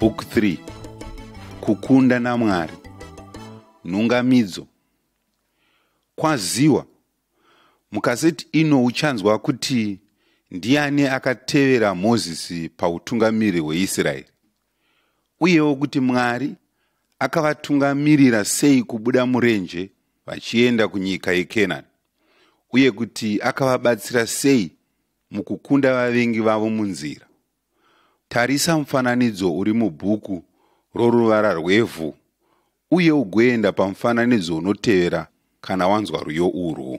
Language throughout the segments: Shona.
Book 3 Kukunda naMwari Nhungamidzo Kwaziwa Mukaseti ino uchanzwa kuti ndiani akatevera Mozisi pautungamiri hweIsraeri uyewo kuti Mwari akavatungamirira sei kubuda murenje vachienda kunyika yeKenani uye kuti akavabatsira sei mukukunda vavengi vavo munzira. Tarisa mufananidzo uri mubhuku roruvara rwevhu uye ugoenda pamufananidzo unotevera kana wanzwa rwiyo urwu.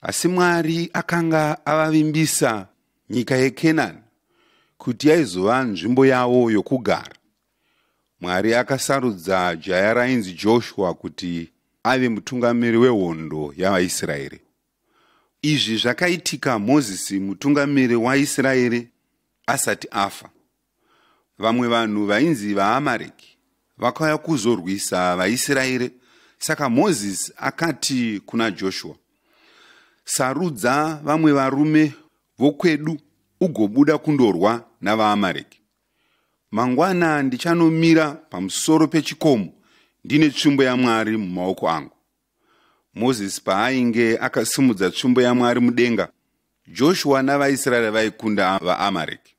asi mwari akanga avavimbisa nyika yekenani kuti yaizova nzvimbo yavo yokugara mwari akasarudza jaya rainzi joshua kuti ave mutungamiri wehondo yavaisraeri izvi zvakaitika mozisi mutungamiri waisraeri asati afa Vamwe vanhu vainzi vaAmareki vakauya kuzorwisa vaIsraeri, saka Mozisi akati kuna Joshua, Sarudza vamwe varume vokwedu ugobuda kundorwa navaAmareki. Mangwana ndichanomira pamusoro pechikomo ndine tsvimbo yaMwari mumaoko angu. mozisi paainge akasimudza tsvimbo yamwari mudenga joshua navaisraeri vaikunda vaamareki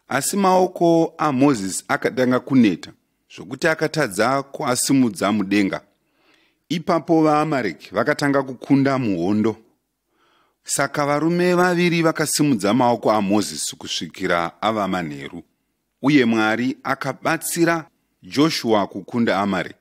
asi maoko amozisi akatanga kuneta zvokuti akatadza kuasimudza mudenga ipapo vaamareki vakatanga kukunda muhondo saka varume vaviri vakasimudza maoko amozisi kusvikira ava manheru uye mwari akabatsira joshua kukunda amarek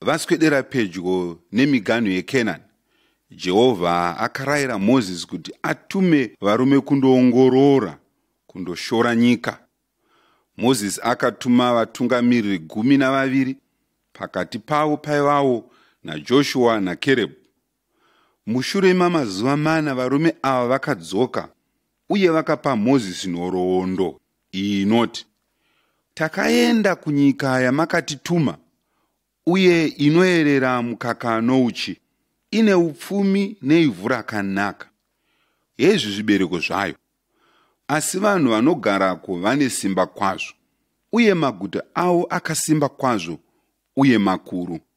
vaswedera pedyo nemiganhu yekenani jehovha akarayira mozisi kuti atume varume kundoongorora kundoshora nyika mozisi akatuma vatungamiriri gumi navaviri pakati pavo paivawo najoshua nakerebhu Mushure mamazuva mana varume ava vakadzoka uye vakapa Mozisi nhoroondo iyi inoti, Takaenda kunyika yamakatituma uye inoerera mukaka nouchi, ine upfumi neivhu rakanaka. Hezvi zvibereko zvayo. Asi vanhu vanogarako vane simba kwazvo, uye maguta avo akasimba kwazvo uye makuru.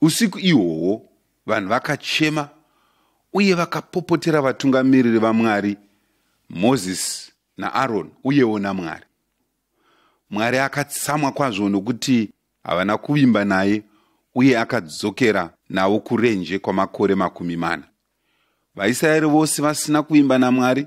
Usiku ihwohwo vanhu vakachema uye vakapopotera vatungamiriri vaMwari, Mozisi naAroni uyewo naMwari. Mwari akatsamwa kwazvo nokuti havana kuvimba naye uye akadzokera navo kurenje kwamakore makumi mana. VaIsraeri vose vasina kuvimba naMwari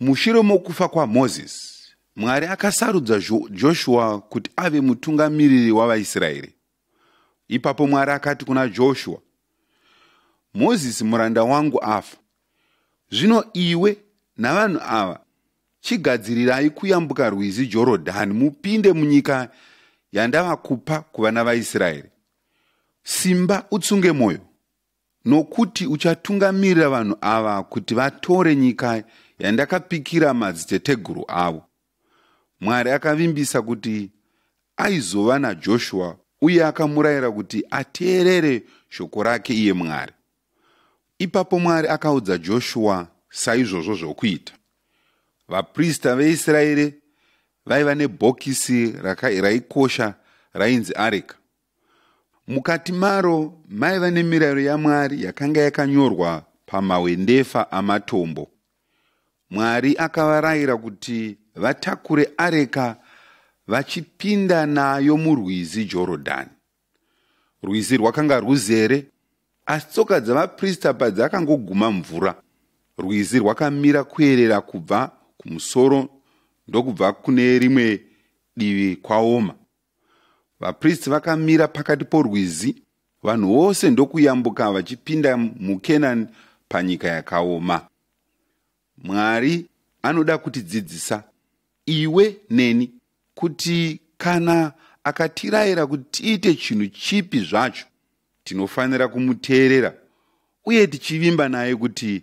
Mushure mokufa kwaMozisi, Mwari akasarudza Joshua kuti ave mutungamiriri wavaIsraeri. Ipapo Mwari akati kuna Joshua, Mozisi muranda wangu afa. Zvino iwe navanhu ava chigadzirirai kuyambuka rwizi Jorodhani mupinde munyika yandavakupa kuvana vaIsraeri. Simba utsunge mwoyo, nokuti uchatungamirira vanhu ava kuti vatore nyika yandakapikira madziteteguru avo mwari akavimbisa kuti aizova najoshua uye akamurayira kuti ateerere shoko rake iye mwari ipapo mwari akaudza joshua saizvozvo zvokuita vaprista veisraeri vaiva nebhokisi raikosha rainzi areka Mukati maro maiva nemirayiro yaMwari yakanga yakanyorwa pamahwendefa amatombo. Mwari akavarayira kuti vatakure areka vachipinda nayo murwizi Jorodhani. Rwizi rwakanga rwuzere, asi tsoka dzavaprista padzakangoguma mvura, rwizi rwakamira kuerera kubva kumusoro ndokubva kune rimwe divi kwaoma. vapristi vakamira pakati porwizi vanhu vose ndokuyambuka vachipinda mukenani panyika yakaoma mwari anoda kutidzidzisa iwe neni kuti kana akatirayira kuti tiite chinhu chipi zvacho tinofanira kumuteerera uye tichivimba naye kuti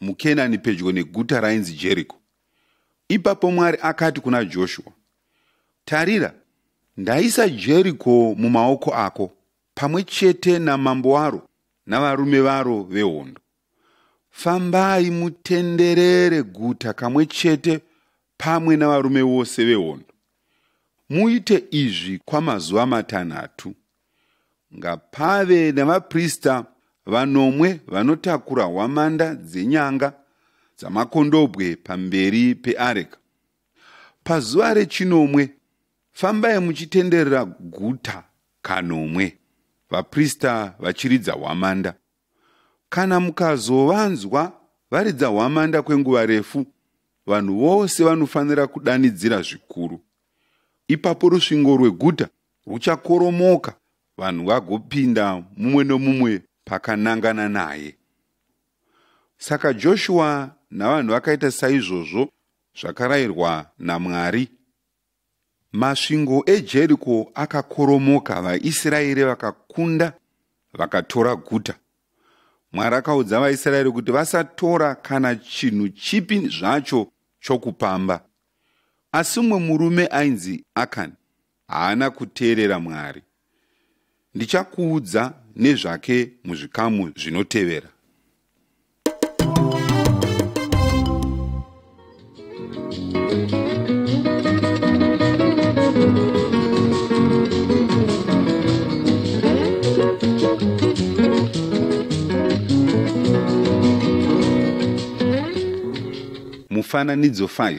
muKenani pedyo neguta rainzi Jeriko. Ipapo Mwari akati kuna Joshua, Tarira, ndaisa Jeriko mumaoko ako, pamwe chete namambo waro navarume varo vehondo. Fambai mutenderere guta kamwe chete pamwe navarume vose vehondo. Muite izvi kwamazuva matanhatu. ngapave navaprista vanomwe vanotakura hwamanda dzenyanga dzamakondobwe pamberi peareka pazuva rechinomwe fambai muchitenderera guta kanomwe vaprista vachiridza hwamanda kana mukazovanzwa varidza hwamanda kwenguva refu vanhu vose vanofanira kudanidzira zvikuru ipapo rusvingo rweguta rwuchakoromoka vanhu vagopinda mumwe nomumwe pakanangana naye. Saka Joshua navanhu vakaita saizvozvo zvakarayirwa naMwari. Masvingo eJeriko akakoromoka, vaIsraeri vakakunda, vakatora guta. Mwari akaudza vaIsraeri kuti vasatora kana chinhu chipi zvacho chokupamba. Asi mumwe murume ainzi Akani haana kuteerera Mwari. Ndichakuudza nezvake muzvikamu zvinotevera. Mufananidzo 5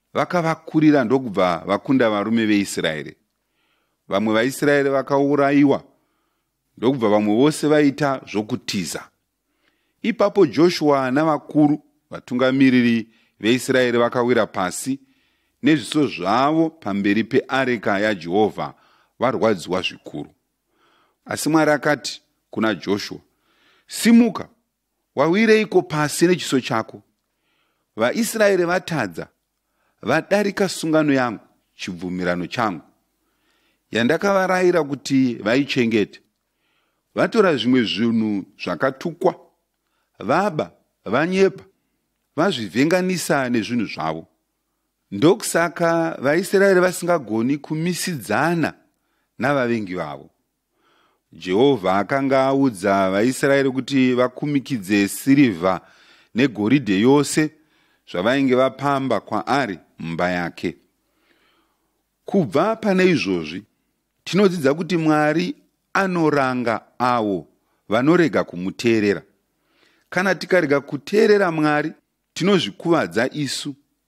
vakavakurira ndokubva vakunda varume veIsraeri. Vamwe vaIsraeri vakaurayiwa ndokubva vamwe vose vaita zvokutiza. Ipapo Joshua navakuru vatungamiriri veIsraeri vakawira pasi nezviso zvavo pamberi peareka yaJehovha varwadziwa zvikuru. Asi Mwari akati kuna Joshua, Simuka Wawireiko pasi nechiso chako? VaIsraeri vatadza, vadarika sungano yangu, chibvumirano changu, yandakavarayira kuti vaichengete. Vatora zvimwe zvinhu zvakatukwa, vaba, vanyepa, vazvivhenganisa nezvinhu zvavo. Ndokusaka vaIsraeri vasingagoni kumisidzana navavengi vavo. Jehovha akanga audza vaIsraeri kuti vakumikidze sirivha negoridhe yose zvavainge vapamba kwaari mumba yake. Kubva pane izvozvi, tinodzidza kuti Mwari anoranga avo vanorega kumuteerera. Kana tikarega kuteerera Mwari, tinozvikuvadza isu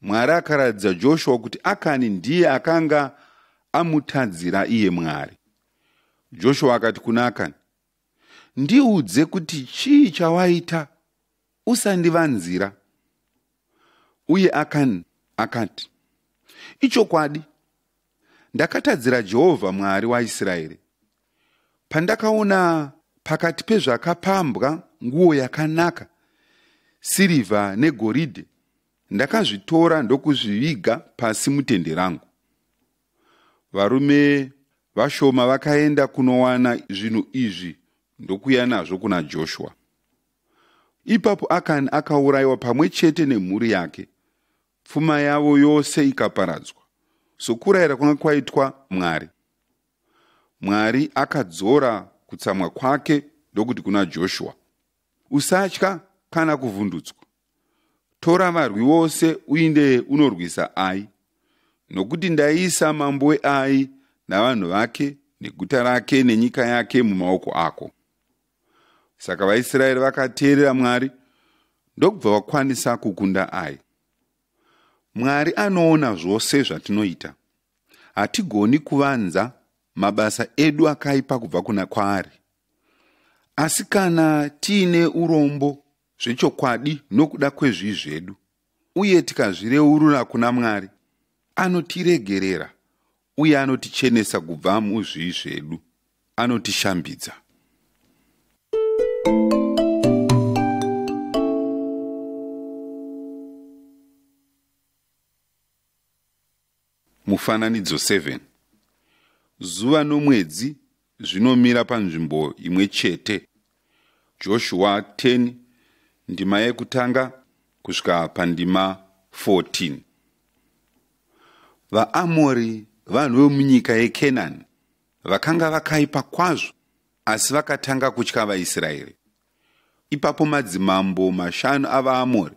Mwari akaratidza Joshua kuti Akani ndiye akanga amutadzira iye Mwari. Joshua akati kuna Akani, Ndiudze kuti chii chawaita, usandivanzira. Uye Akani akati, Ichokwadi, ndakatadzira Jehovha Mwari waIsraeri. Pandakaona pakati pezvakapambwa nguo yakanaka, sirivha negoridhe, ndakazvitora ndokuzviviga pasi mutende rangu varume vashoma vakaenda kunowana zvinhu izvi ndokuya nazvo kuna joshua ipapo akani akaurayiwa pamwe chete nemhuri yake pfuma yavo yose ikaparadzwa sokurayira kwanga kwaitwa mwari mwari akadzora kutsamwa kwake ndokuti kuna joshua Usatya kana kuvhundutswa. Tora varwi vose uinde unorwisa Ai, nokuti ndaisa mambo weAi navanhu vake neguta rake nenyika yake mumaoko ako. Saka vaIsraeri vakateerera Mwari ndokubva vakwanisa kukunda Ai. Mwari anoona zvose zvatinoita. Hatigoni kuvanza mabasa edu akaipa kubva kuna kwaari asi kana tiine urombo zvechokwadi nokuda kwezvii zvedu uye tikazvireurura kuna mwari anotiregerera uye anotichenesa kubva muzvii zvedu anotishambidza Mufananidzo 7 Zuva nomwedzi zvinomira panzvimbo imwe chete. Joshua 10 ndima yekutanga kusvika pandima 14. VaAmori vanhu vemunyika yeKenani vakanga vakaipa kwazvo asi vakatanga kutya vaIsraeri. Ipapo madzimambo mashanu avaAmori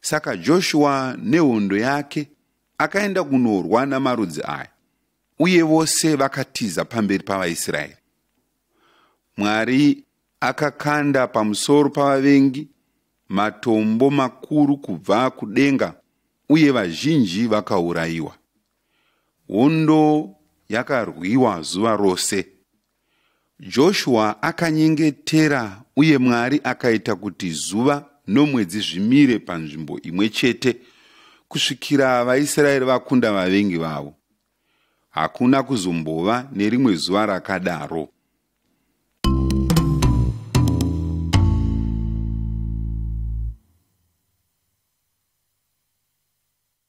Saka Joshua nehondo yake akaenda kunorwa namarudzi aya, uye vose vakatiza pamberi pavaIsraeri. Mwari akakanda pamusoro pavavengi matombo makuru kubva kudenga, uye vazhinji vakaurayiwa. Hondo yakarwiwa zuva rose. Joshua akanyengetera uye Mwari akaita kuti zuva nomwedzi zvimire panzvimbo imwe chete kusvikira vaIsraeri vakunda vavengi vavo. Hakuna kuzombova nerimwe zuva rakadaro.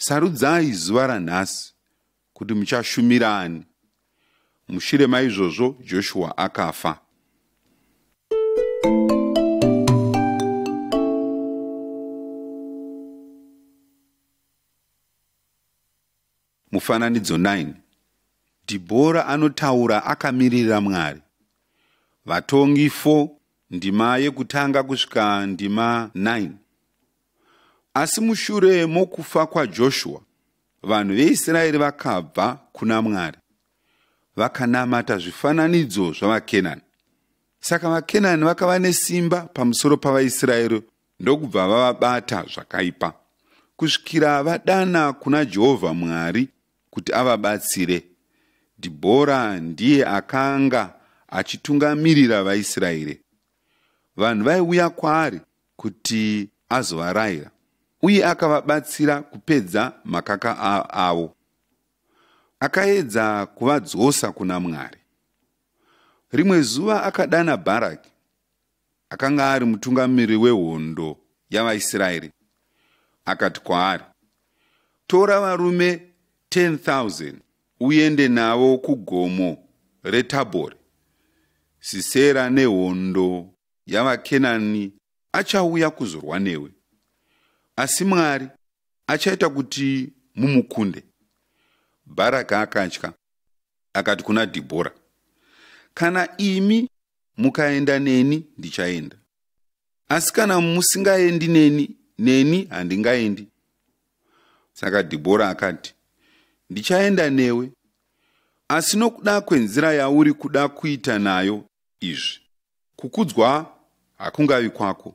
Sarudzai zuva ranhasi kuti muchashumira ani. Mushure maizvozvo Joshua akafa. Mufananidzo 9 Dhibhora anotaura akamiririra Mwari. Vatongi 4 ndima yekutanga kusvika ndima 9 Asi mushure mokufa kwaJoshua, vanhu veIsraeri vakabva kuna Mwari, vakanamata zvifananidzo zvavaKenani. Saka vaKenani vakava nesimba pamusoro pavaIsraeri ndokubva vavabata zvakaipa kusvikira vadana kuna jehovha mwari kuti avabatsire dhibhora ndiye akanga achitungamirira vaisraeri vanhu vaiuya kwaari kuti azovarayira uye akavabatsira kupedza makaka avo akaedza kuvadzosa kuna mwari rimwe zuva akadana bharaki akanga ari mutungamiri wehondo yavaisraeri akati kwaari tora varume 10,000 uende navo kugomo retabhori sisera nehondo yavakenani achauya kuzorwa newe asi mwari achaita kuti mumukunde bharaka akatya akati kuna dhibhora kana imi mukaenda neni ndichaenda asi kana musingaendi neni neni handingaendi saka dhibhora akati ndichaenda newe asi nokuda kwenzira yauri kuda kuita nayo izvi kukudzwa hakungavi kwako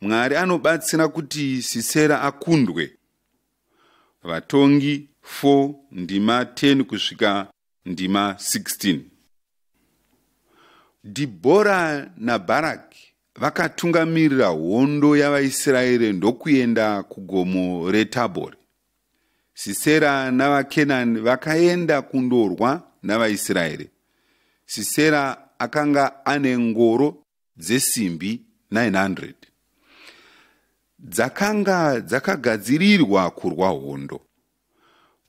Mwari anobatsira kuti Sisera akundwe. Vatongi 4 ndima 10 kusvika ndima 16. Dhibhora naBharaki vakatungamirira hondo yavaIsraeri ndokuenda kugomo reTabhori. Sisera navaKenani vakaenda kundorwa navaIsraeri. Sisera akanga ane ngoro dzesimbi 900 dzakanga dzakagadzirirwa kurwa hondo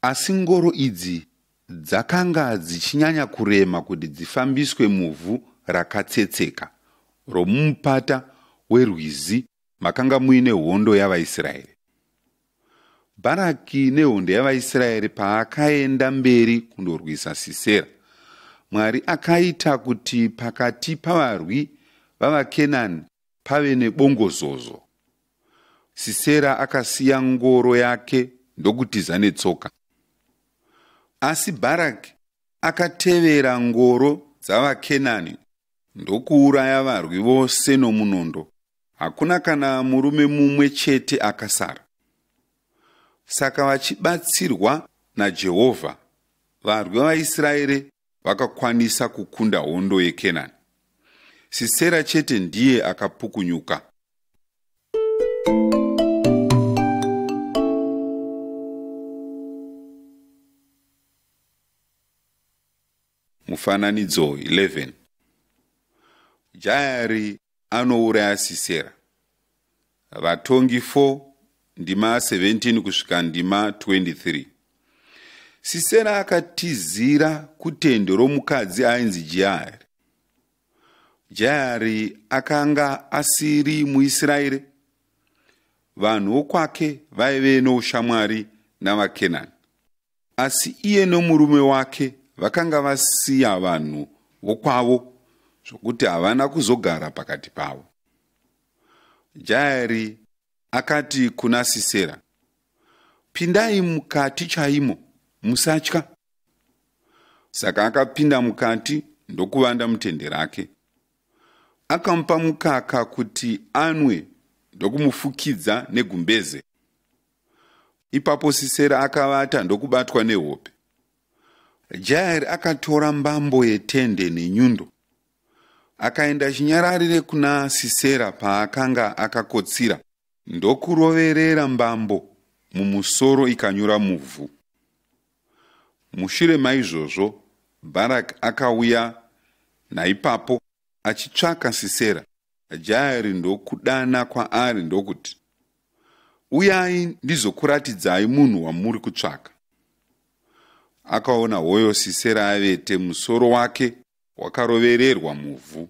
asi ngoro idzi dzakanga dzichinyanya kurema kuti dzifambiswe muvhu rakatsetseka romumupata werwizi makanga muine hondo yavaisraeri Bharaki nehondo yavaIsraeri paakaenda mberi kundorwisa Sisera, Mwari akaita kuti pakati pavarwi vavaKenani pave nebongozozo. Sisera akasiya ngoro yake ndokutiza netsoka. Asi Bharaki akatevera ngoro dzavaKenani ndokuuraya varwi vose nomunondo hakuna kana murume mumwe chete akasara. Saka vachibatsirwa naJehovha, varwi vaIsraeri vakakwanisa kukunda hondo yeKenani. Sisera chete ndiye akapukunyuka. Mufananidzo 11 Jaeri anouraya Sisera. Vatongi 4 ndima 17 kusvika ndima 23 Sisera akatizira kutende romukadzi ainzi Jaeri. Jaeri akanga asiri muIsraeri. Vanhu vokwake vaive noushamwari navaKenani. asi iye nomurume wake vakanga vasiya vanhu vokwavo zvokuti havana kuzogara pakati pavo jaeri akati kuna sisera pindai mukati chaimo musatya saka akapinda mukati ndokuvanda mutende rake akamupa mukaka kuti anwe ndokumufukidza negumbeze Ipapo Sisera akavata ndokubatwa nehope. Jaeri akatora mbambo yetende nenyundo akaenda chinyararire kuna Sisera paakanga akakotsira ndokuroverera mbambo mumusoro ikanyura muvhu. Mushure maizvozvo Bharaki akauya naipapo achitsvaka Sisera. Jaeri ndokudana kwaari ndokuti, Uyai ndizokuratidzai munhu wamuri kutsvaka. Akaona hoyo Sisera avete musoro wake wakarovererwa muvhu.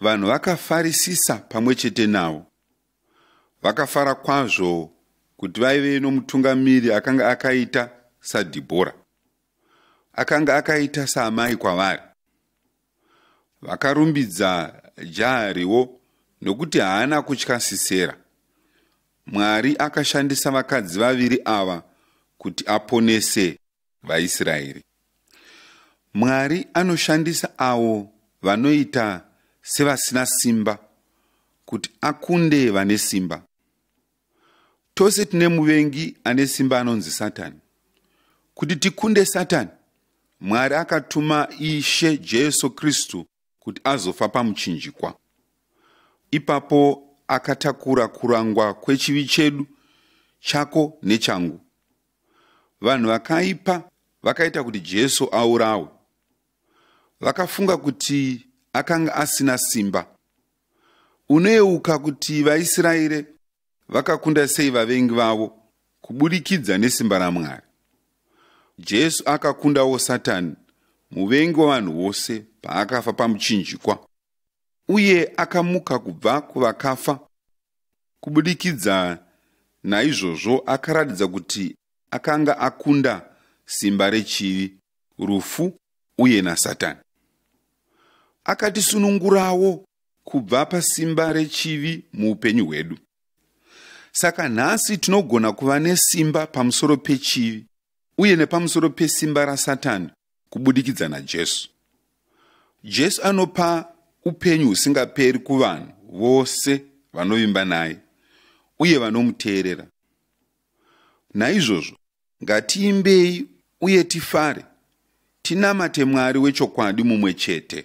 Vanhu vakafarisisa pamwe chete navo. Vakafara kwazvo kuti vaive nomutungamiri akanga akaita saDhibhora. Akanga akaita saamai kwavari. Vakarumbidza Jaariwo nokuti haana kutya Sisera. Mwari akashandisa vakadzi vaviri ava kuti aponese vaIsraeri. Mwari anoshandisa avo vanoita sevasina simba kuti akunde vane simba. Tose tine muvengi ane simba anonzi Satani. Kuti tikunde Satani, Mwari akatuma Ishe Jesu Kristu kuti azofa pamuchinjikwa. Ipapo akatakura kurangwa kwechivi chedu, chako nechangu. vanhu vakaipa vakaita kuti jesu aurawe vakafunga kuti akanga asina simba unoyeuka kuti vaisraeri vakakunda sei vavengi vavo kuburikidza nesimba ramwari jesu akakundawo satani muvengi wavanhu vose paakafa pamuchinjikwa uye akamuka kubva kuvakafa Kubudikidza naizvozvo akaratidza kuti akanga akunda simba rechivi, rufu uye naSatani. Akatisunungurawo kubva pasimba rechivi muupenyu hwedu. Saka nhasi tinogona kuva nesimba pamusoro pechivi uye nepamusoro pesimba raSatani kubudikidza naJesu. Jesu anopa upenyu husingaperi kuvanhu vose vanovimba naye uye vanomuteerera. Naizvozvo, ngatiimbei uye tifare, tinamate Mwari wechokwadi mumwe chete.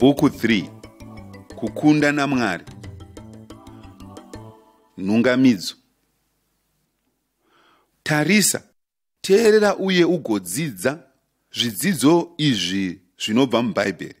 Bhuku 3 Kukunda naMwari Nhungamidzo Tarisa, teerera uye ugodzidza zvidzidzo izvi zvinobva muBhaibheri.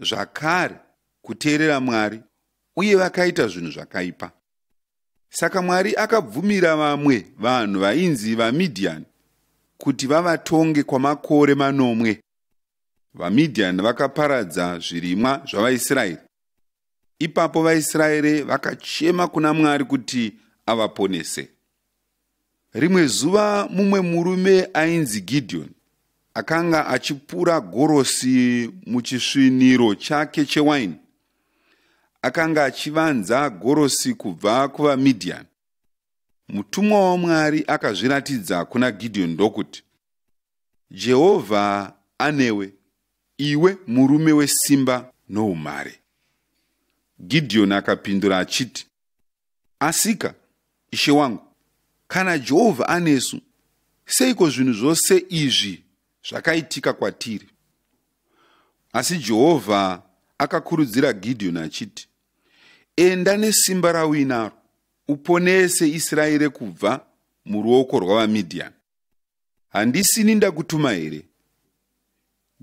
zvakare kuteerera Mwari uye vakaita zvinhu zvakaipa. Saka Mwari akabvumira vamwe vanhu vainzi vaMidhiani kuti vavatonge kwamakore manomwe. VaMidhiani vakaparadza zvirimwa zvavaIsraeri. Ipapo vaIsraeri vakachema kuna Mwari kuti avaponese. Rimwe zuva mumwe murume ainzi Gideon akanga achipura gorosi muchisviniro chake chewaini. Akanga achivanza gorosi kubva kuvaMidian. Mutumwa waMwari akazviratidza kuna Gideon ndokuti, Jehovha anewe, iwe murume wesimba noumhare. Gideon akapindura achiti, asika ishe wangu kana jehovha anesu seiko zvinhu zvose izvi zvakaitika kwatiri asi jehovha akakurudzira gidhiyoni achiti enda nesimba rauinaro uponese israeri kubva muruoko rwavamidhiyani handisini ndakutuma here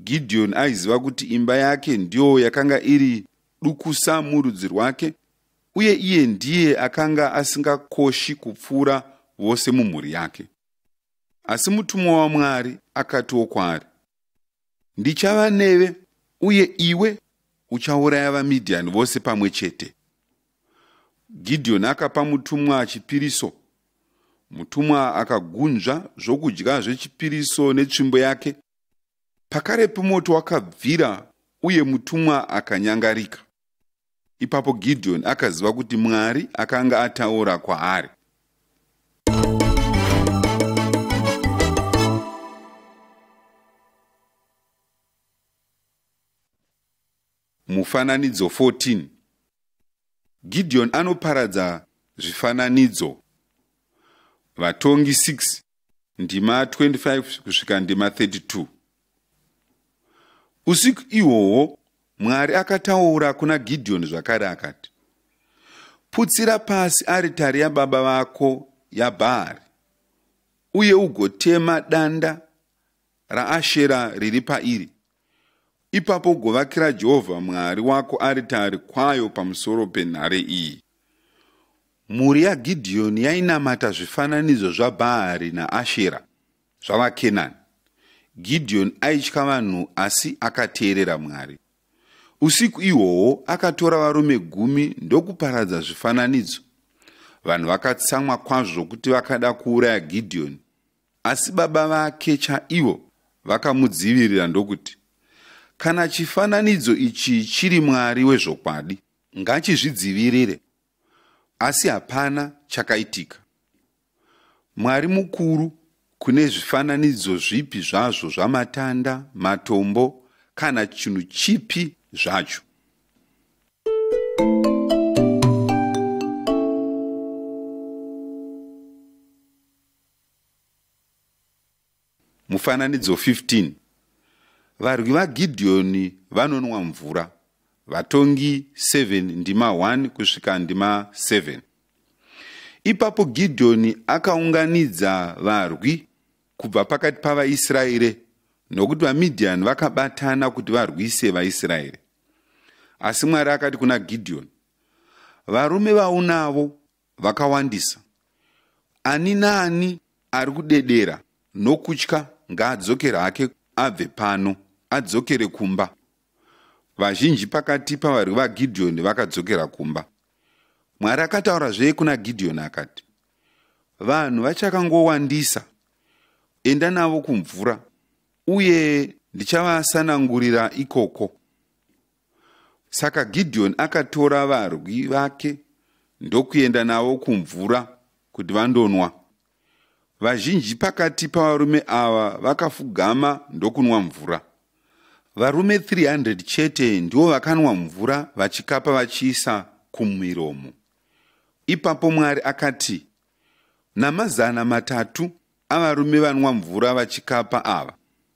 Gideon aiziva kuti imba yake ndiyo yakanga iri dukusa murudzi rwake uye iye ndiye akanga asingakoshi kupfuura vose mumhuri yake. Asi mutumwa waMwari akatiwo kwaari, Ndichava neve uye iwe uchauraya vaMidhiani vose pamwe chete. Gideon akapa mutumwa chipiriso. Mutumwa akagunzva zvokudya zvechipiriso netsvimbo yake Pakarepo moto wakabvira uye mutumwa akanyangarika. Ipapo Gideoni akaziva kuti Mwari akanga ataura kwaari. Mufananidzo 14 Gideon anoparadza zvifananidzo Vatongi 6 ndima 25 kusvika ndima 32 Usiku ihwohwo Mwari akataura kuna Gideon zvakare akati Putsira pasi aritari yababa vako yaBhaari uye ugotema danda raAshera riri pairi. Ipapo ugovakira Jehovha Mwari wako aritari kwayo pamusoro penhare iyi. Mhuri yaGidhiyoni yainamata zvifananidzo zvaBhaari naAshera zvavaKenani. Gidhiyoni aitya vanhu asi akateerera Mwari. Usiku ihwohwo akatora varume gumi ndokuparadza zvifananidzo. Vanhu vakatsamwa kwazvo zvokuti vakada kuuraya Gidhiyoni. Asi baba vake chaivo vakamudzivirira ndokuti, Kana chifananidzo ichi chiri Mwari wezvokwadi, ngachizvidzivirire. Asi hapana chakaitika. Mwari mukuru kune zvifananidzo zvipi zvazvo zvamatanda, matombo kana chinhu chipi zvacho. Mufananidzo 15 Varwi vaGidhiyoni vanonwa mvura. Vatongi 7 ndima 1 kusvika ndima 7 Ipapo Gidhiyoni akaunganidza varwi kubva pakati pavaIsraeri nokuti vaMidhiani vakabatana kuti varwise vaIsraeri. Asi Mwari akati kuna Gidhiyoni, Varume vaunavo vakawandisa. Ani naani ari kudedera nokutya ngaadzokere hake abve pano, adzokere kumba. Vazhinji pakati pavarwi vaGidhiyoni vakadzokera kumba. Mwari akataurazve kuna Gidhiyoni akati, Vanhu vachakangowandisa, enda navo kumvura, uye ndichavasanangurira ikoko. Saka Gideoni akatora varwi vake ndokuenda navo kumvura kuti vandonwa. Vazhinji pakati pavarume ava vakafugama ndokunwa mvura. Varume 300 chete ndivo vakanwa mvura vachikapa vachiisa kumiromo. Ipapo Mwari akati, Namazana matatu avarume vanwa mvura vachikapa ava,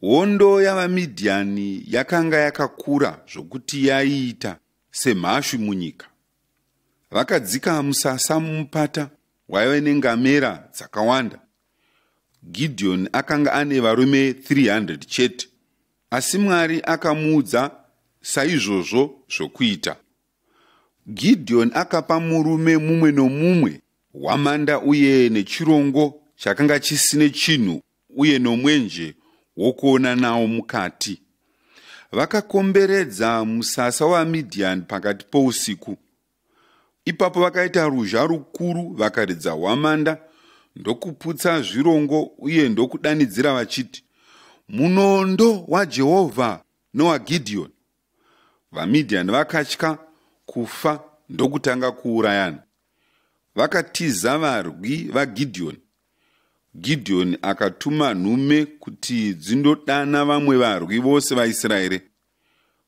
Hondo yavaMidhiani yakanga yakakura zvokuti yaiita semhashu munyika. Vakadzika musasa mumupata waive nengamera dzakawanda. Gidhiyoni akanga ane varume 300 chete, asi Mwari akamuudza saizvozvo zvokuita. Gidhiyoni akapa murume mumwe nomumwe hwamanda uye nechirongo chakanga chisine chinhu uye nomwenje wokuona nawo mukati. Vakakomberedza musasa waMidhiani pakati pousiku. Ipapo vakaita ruzha rukuru, vakaridza hwamanda, ndokuputsa zvirongo uye ndokudanidzira vachiti, Munondo waJehovha nowaGidhiyoni! vamidhiani vakatya kufa ndokutanga kuurayana vakatiza varwi vagidhiyoni gidhiyoni akatuma nhume kuti dzindodana vamwe varwi vose vaisraeri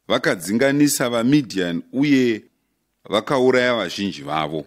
vakadzinganisa vamidhiani uye vakauraya vazhinji vavo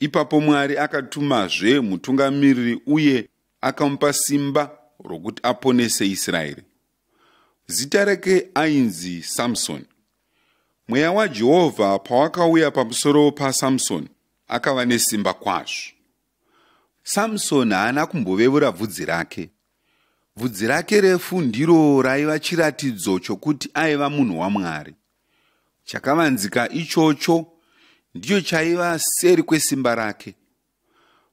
Ipapo Mwari akatumazve mutungamiriri uye akamupa simba rokuti aponese Israeri. Zita rake ainzi Samsoni. Mweya waJehovha pawakauya pamusoro paSamsoni, akava nesimba kwazvo. Samsoni haana kumbovevura bvudzi rake. Bvudzi rake refu ndiro raiva chiratidzo chokuti aiva munhu waMwari. Chakavanzika ichocho ndicho chaiva seri kwesimba rake.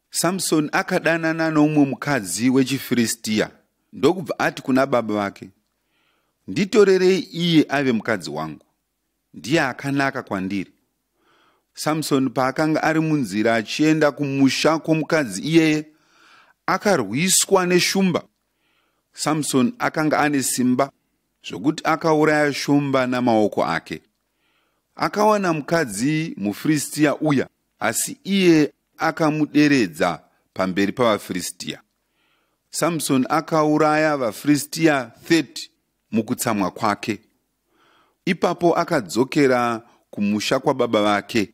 Samsoni akadanana noumwe mukadzi wechiFiristiya ndokubva ati kuna baba vake, Nditorerei iye ave mukadzi wangu, ndiye akanaka kwandiri. Samsoni paakanga ari munzira achienda kumusha kwomukadzi iyeye, akarwiswa neshumba. Samsoni akanga ane simba zvokuti akauraya shumba namaoko ake. Akawana mukadzi muFiristia uya, asi iye akamuderedza pamberi pavaFiristia. Samsoni akauraya vaFiristia 30 mukutsamwa kwake. Ipapo akadzokera kumusha kwababa vake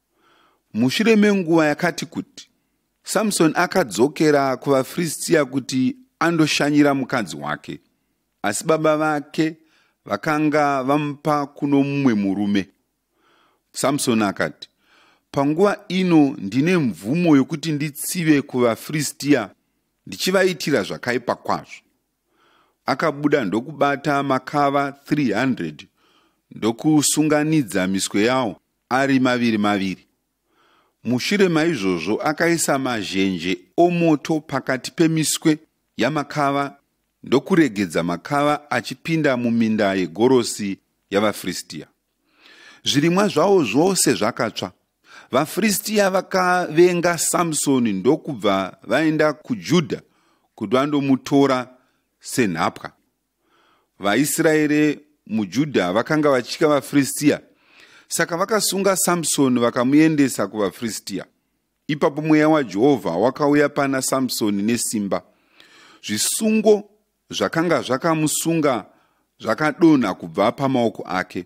Mushure menguva yakati kuti, Samsoni akadzokera kuvaFiristiya kuti andoshanyira mukadzi wake, asi baba vake vakanga vamupa kuno mumwe murume. Samsoni akati, Panguva ino ndine mvumo yokuti nditsive kuvaFiristiya ndichivaitira zvakaipa kwazvo. Akabuda ndokubata makava 300 ndokusunganidza miswe yawo ari maviri maviri. Mushure maizvozvo akaisa mazhenje omoto pakati pemiswe yamakava ndokuregedza makava achipinda muminda yegorosi yavaFiristia. Zvirimwa zvavo zvose zvakatsva. VaFiristia vakavenga Samsoni ndokubva vaenda kuJudha kuti vandomutora senhapwa. vaisraeri mujudha vakanga vachitya vafiristiya saka vakasunga samsoni vakamuendesa kuvafiristiya ipapo mweya wajehovha wakauya pana samsoni nesimba zvisungo zvakanga zvakamusunga zvakadonha kubva pamaoko ake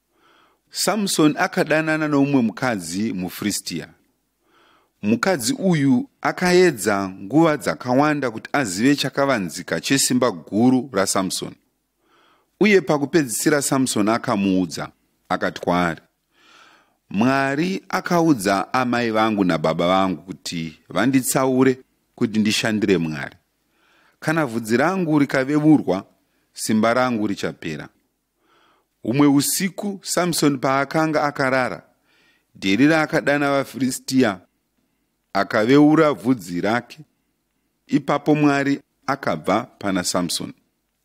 samsoni akadanana noumwe mukadzi mufristiya mukadzi uyu akaedza nguva dzakawanda kuti azive chakavanzika chesimba guru rasamsoni uye pakupedzisira samsoni akamuudza akati kwaari mwari akaudza amai vangu nababa vangu kuti vanditsaure kuti ndishandire mwari kana vhudzi rangu rikavevurwa simba rangu richapera Humwe usiku Samsoni paakanga akarara, Dherira akadana vaFiristia akaveura vhudzi rake. Ipapo Mwari akabva pana Samsoni,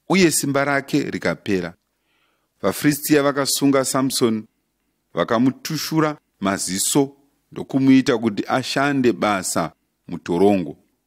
uye simba rake rikapera. VaFiristia vakasunga Samsoni, vakamutushura maziso ndokumuita kuti ashande basa mutorongo.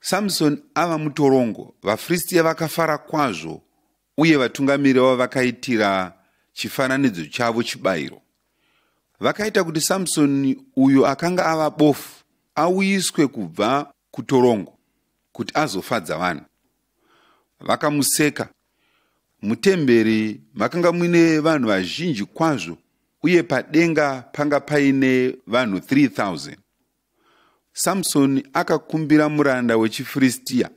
Samsoni ava mutorongo, vaFiristiya vakafara kwazvo uye vatungamiri vavo vakaitira chifananidzo chavo chibayiro. Vakaita kuti Samsoni uyo akanga ava bofu auyiswe kubva kutorongo kuti azofadza vanhu. Vakamuseka. Mutemberi makanga muine vanhu vazhinji kwazvo uye padenga panga paine vanhu 3000. Samsoni akakumbira muranda wechiFiristia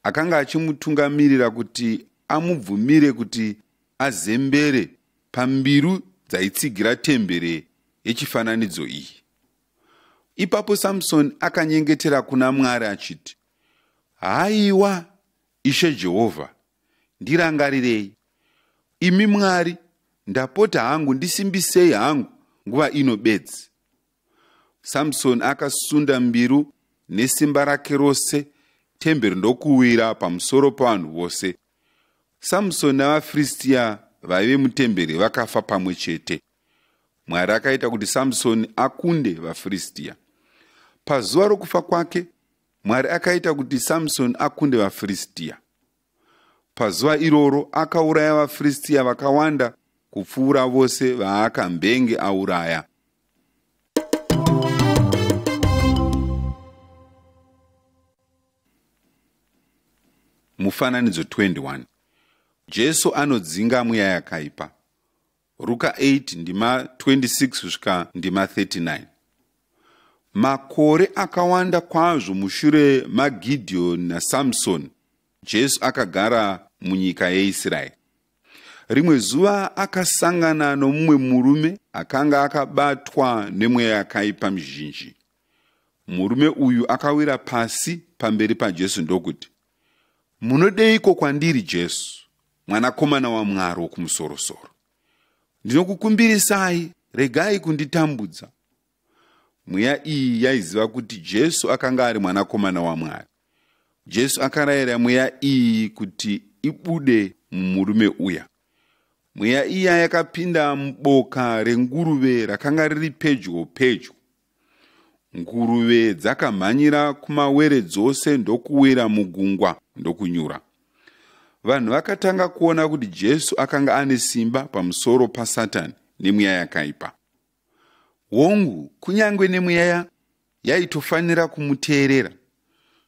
akanga achimutungamirira kuti amubvumire kuti azembere pambiru dzaitsigira tembere yechifananidzo iyi. Ipapo Samsoni akanyengetera kuna Mwari achiti, Haiwa Ishe Jehovha, ndirangarirei. Imi Mwari, ndapota hangu ndisimbisei hangu nguva ino bedzi. samsoni akasunda mbiru nesimba rake rose temberi ndokuwira pamusoro pavanhu vose samsoni navafiristiya vaive mutemberi vakafa pamwe chete mwari akaita kuti samsoni akunde vafiristiya pazuva rokufa kwake mwari akaita kuti samsoni akunde vafiristiya Pazuva iroro akauraya vaFiristiya vakawanda kupfuura vose vaakambenge auraya. Mufananidzo 21 Jesu anodzinga mweya yakaipa. Ruka 8 ndima 26 kusvika ndima 39. Makore akawanda kwazvo mushure maGideoni naSamsoni, Jesu akagara munyika yeIsraeri. Rimwe zuva akasangana nomumwe murume akanga akabatwa nemweya yakaipa mizhinji. Murume uyu akawira pasi pamberi paJesu ndokuti, Munodeiko kwandiri, Jesu, mwanakomana waMwari wokumusorosoro. Ndinokukumbirisai, regai kunditambudza. Mweya iyi yaiziva kuti Jesu akanga ari mwanakomana waMwari. Jesu akarayira mweya iyi kuti ibude mumurume uya. Mweya iya yakapinda muboka renguruve rakanga riri pedyo pedyo Nguruve dzakamhanyira kumawere dzose ndokuwira mugungwa ndokunyura. Vanhu vakatanga kuona kuti Jesu akanga ane simba pamusoro paSatani nemweya yakaipa. Hongu, kunyange nemweya yaitofanira kumuteerera.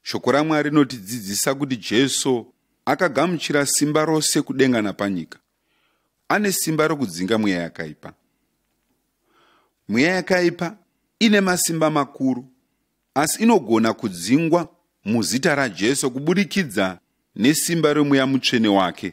Shoko raMwari rinotidzidzisa kuti Jesu akagamuchira simba rose kudenga napanyika. Ane simba rokudzinga mweya yakaipa. Mweya yakaipa ine masimba makuru, asi inogona kudzingwa muzita raJesu kuburikidza nesimba remweya mutsvene wake.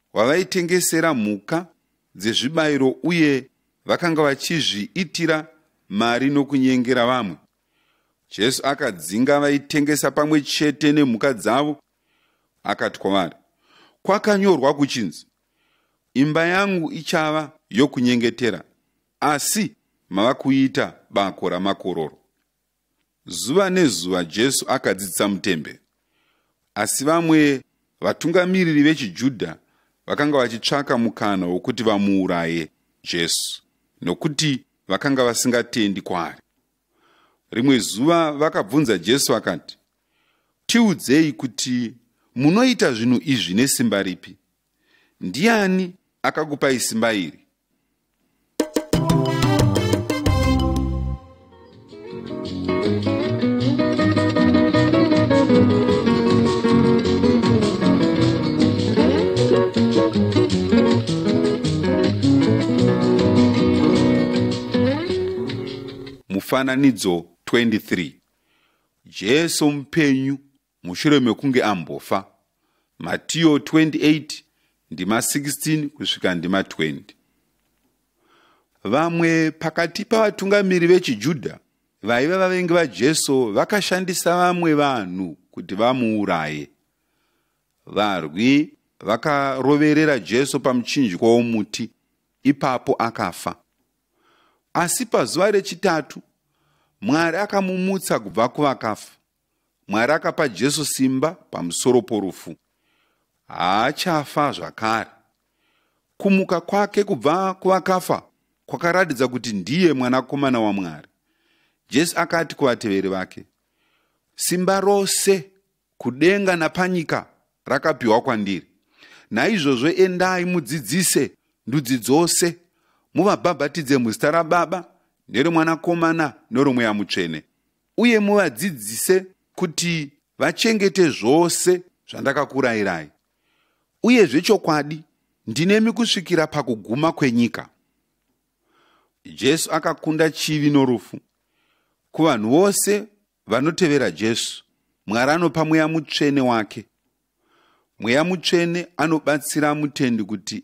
wavaitengesera mhuka dzezvibayiro uye vakanga vachizviitira mari nokunyengera vamwe. Jesu akadzinga vaitengesa pamwe chete nemhuka dzavo akati kwavari, Kwakanyorwa kuchinzi, imba yangu ichava yokunyengetera, asi mava kuita bako ramakororo. Zuva nezuva Jesu akadzidzisa mutemberi, asi vamwe vatungamiriri vechiJudha vakanga vachitsvaka mukana wokuti vamuuraye Jesu nokuti vakanga vasingatendi kwaari. Rimwe zuva vakabvunza Jesu vakati, Tiudzei kuti munoita zvinhu izvi nesimba ripi? ndiani akakupai simba iri mufananidzo 23 jesu mupenyu mushure mekunge ambofa matiyo 28 ndima 16 kusvika ndima 20 vamwe pakati pavatungamiri vechijudha vaiva vavengi vajesu vakashandisa vamwe vanhu kuti vamuuraye varwi vakaroverera jesu pamuchinjikwa womuti ipapo akafa asi pazuva rechitatu mwari akamumutsa kubva kuvakafa Mwari akapa Jesu simba pamusoro porufu. Haachafa zvakare. Kumuka kwake kubva kuvakafa kwakaratidza kuti ndiye mwanakomana waMwari. Jesu akati kuvateveri vake, Simba rose kudenga napanyika rakapiwa kwandiri. Naizvozvo endai mudzidzise ndudzi dzose, muvabhabhatidze muzita raBaba neromwanakomana neromweya mutsvene. uye muvadzidzise kuti vachengete zvose zvandakakurayirai uye zvechokwadi ndinemi kusvikira pakuguma kwenyika jesu akakunda chivi norufu kuvanhu vose vanotevera jesu mwari anopa mweya mutsvene wake mweya mutsvene anobatsira mutendi kuti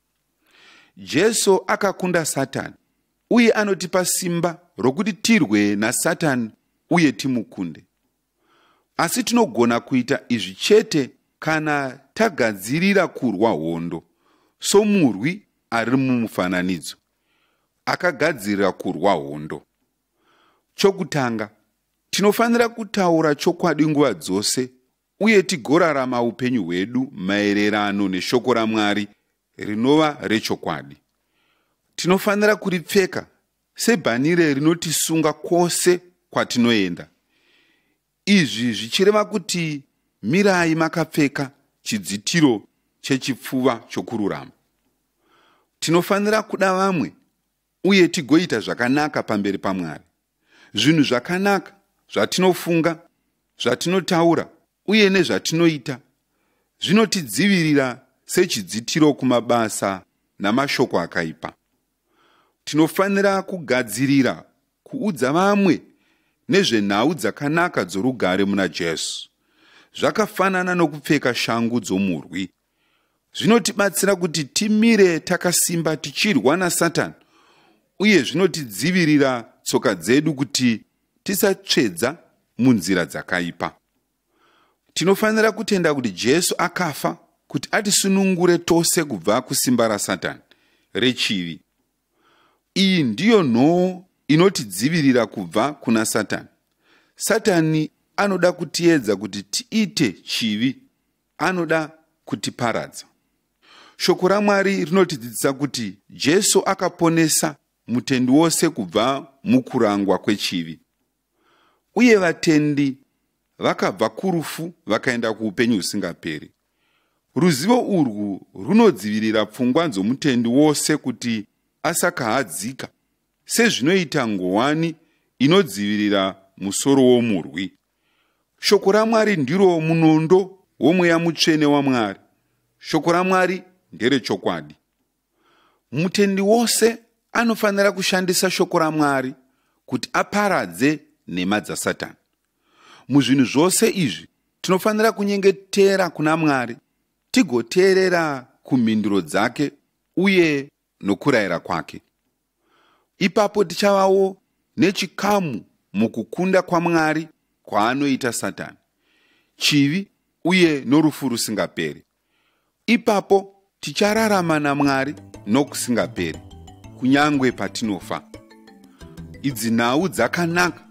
jesu akakunda satani uye anotipa simba rokuti tirwe nasatani uye timukunde asi tinogona kuita izvi chete kana tagadzirira kurwa hondo somurwi ari mumufananidzo akagadzirira kurwa hondo chokutanga tinofanira kutaura chokwadi nguva dzose uye tigorarama upenyu hwedu maererano neshoko raMwari rinova rechokwadi. Tinofanira kuripfeka sebhanire rinotisunga kwose kwatinoenda. Izvi zvichireva kuti mirai makapfeka chidzitiro chechipfuva chokururama. Tinofanira kuda vamwe uye tigoita zvakanaka pamberi paMwari. Zvinhu zvakanaka zvatinofunga, zvatinotaura uye nezvatinoita zvinotidzivirira sechidzitiro kumabasa namashoko akaipa. Tinofanira kugadzirira kuudza vamwe nezvenhau dzakanaka dzorugare muna Jesu. Zvakafanana nokupfeka shangu dzomurwi zvinotibatsira kuti timire takasimba tichirwa nasatani uye zvinotidzivirira tsoka dzedu kuti tisatsvedza munzira dzakaipa tinofanira kutenda kuti jesu akafa kuti atisunungure tose kubva kusimba rasatani rechivi iyi ndiyo nhoo inotidzivirira kubva kuna satani satani anoda kutiedza kuti tiite chivi anoda kutiparadza. Shoko raMwari rinotidzidzisa kuti Jesu akaponesa mutendi wose kubva mukurangwa kwechivi. Uye vatendi vakabva kurufu vakaenda kuupenyu husingaperi. Ruzivo urwu runodzivirira pfungwa dzomutendi wose kuti asakahadzika, sezvinoita ngowani inodzivirira musoro womurwi. Shoko raMwari ndiro munondo womweya mutsvene waMwari. Shoko raMwari nderechokwadi. Mutendi wose anofanira kushandisa shoko raMwari kuti aparadze nhema dzaSatani. Muzvinhu zvose izvi tinofanira kunyengetera kuna Mwari tigoteerera kumhinduro dzake uye nokurayira kwake. Ipapo tichavawo nechikamu mukukunda kwaMwari kwaanoita Satani, chivi uye norufu rusingaperi. Ipapo tichararama naMwari nokusingaperi, kunyange patinofa. Idzi nhau dzakanaka